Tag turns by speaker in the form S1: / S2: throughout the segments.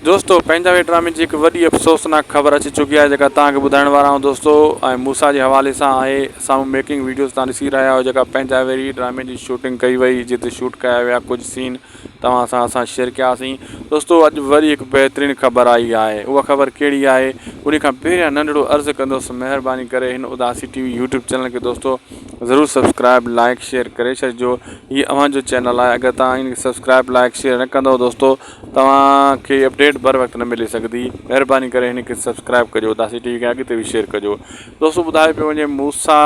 S1: دوستو پنهنجا وي ڊرامي جي هڪ وڏي افسوسناڪ خبر اچي چڪي آهي جيڪا توهان کي ٻڌائڻ وارا آهيون دوستو ۽ موسيٰ جي حوالي سان آهي سامهون ميڪنگ ويڊيوز توهان ڏسي رهيا آهيو جيڪا پنهنجا وي ڊرامي جي شوٽنگ ڪئي وئي جنهن تي شوٽ ڪيا ويا ڪجهه سين توهان سان اسان شيئر ڪياسين دوستو اڄ وري هڪ بهترين خبر آئي آهي اها خبر ڪهڙي آهي انهي کان پهريان ننڍڙو عرض ڪندس مهرباني ڪري هن Udasi TV YouTube channel کي دوستو ضرور سبسڪرائب لائڪ شيئر ڪري ڇڏجو هي اوهان جو چينل آهي اگر توهان هن کي سبسڪرائب لائڪ شيئر نه ڪندو دوستو توهان کي اپڊيٽ بر وقت نه ملي سگهندي مهرباني ڪري هن کي سبسڪرائب ڪجو داسي ٽي وي کي اڳتي به شيئر ڪجو دوستو ٻڌايو پيو وڃي موسا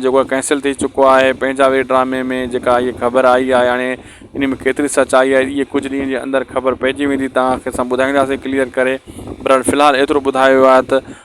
S1: جيڪو آهي ڪينسل ٿي چڪو آهي پنهنجا وي ڊرامي ۾ جيڪا هيء خبر آئي آهي هاڻي ان ۾ ڪيتري سچائي آهي هيء ڪجهه ڏينهن جي اندر خبر پئجي ويندي توهان کي اسان ٻڌائينداسي ڪليئر ڪري برحال في الحال ايترو ٻڌايو آهي ته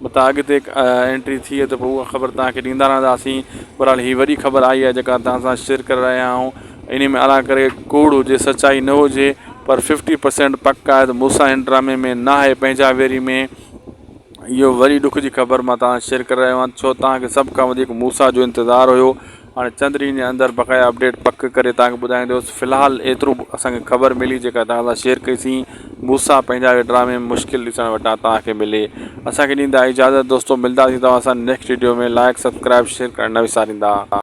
S1: متان اڳتي انٽري ٿئي ته پوء اها خبر توهان کي ڏيندا رهنداسين. بهرحال هي وڏي خبر آهي اها جيڪا توهان سان شيئر ڪري رهيا آهيون. انهي ۾ الان ڪري ڪوڙ هجي سچائي نه هجي پر ففٽي پرسينٽ پڪ آهي ته موسيٰ هن ڊرامي ۾ ناهي پنهنجا ويري ۾ اهو وڏي ڏک جي خبر مان توهان سان شيئر ڪري رهيو آهيان ڇو توهان کي سڀ کان وڌيڪ موسيٰ جو انتظار هيو هاڻي چند ڏينهن جي اندر بقايا اپڊيٽ پڪ ڪري توهان کي ٻڌائيندوس في الحال ايترو اسان کي خبر ملي جيڪا توهان سان شيئر ڪئي سين موسيٰ پنهنجا اهي ڊرامي مشڪل ڏسڻ وٽان توهان کي ملي اسان کي ڏيندا اجازت دوستو ملداسين توهان سان next video ۾ like subscribe share ڪرڻ نه وساريندا.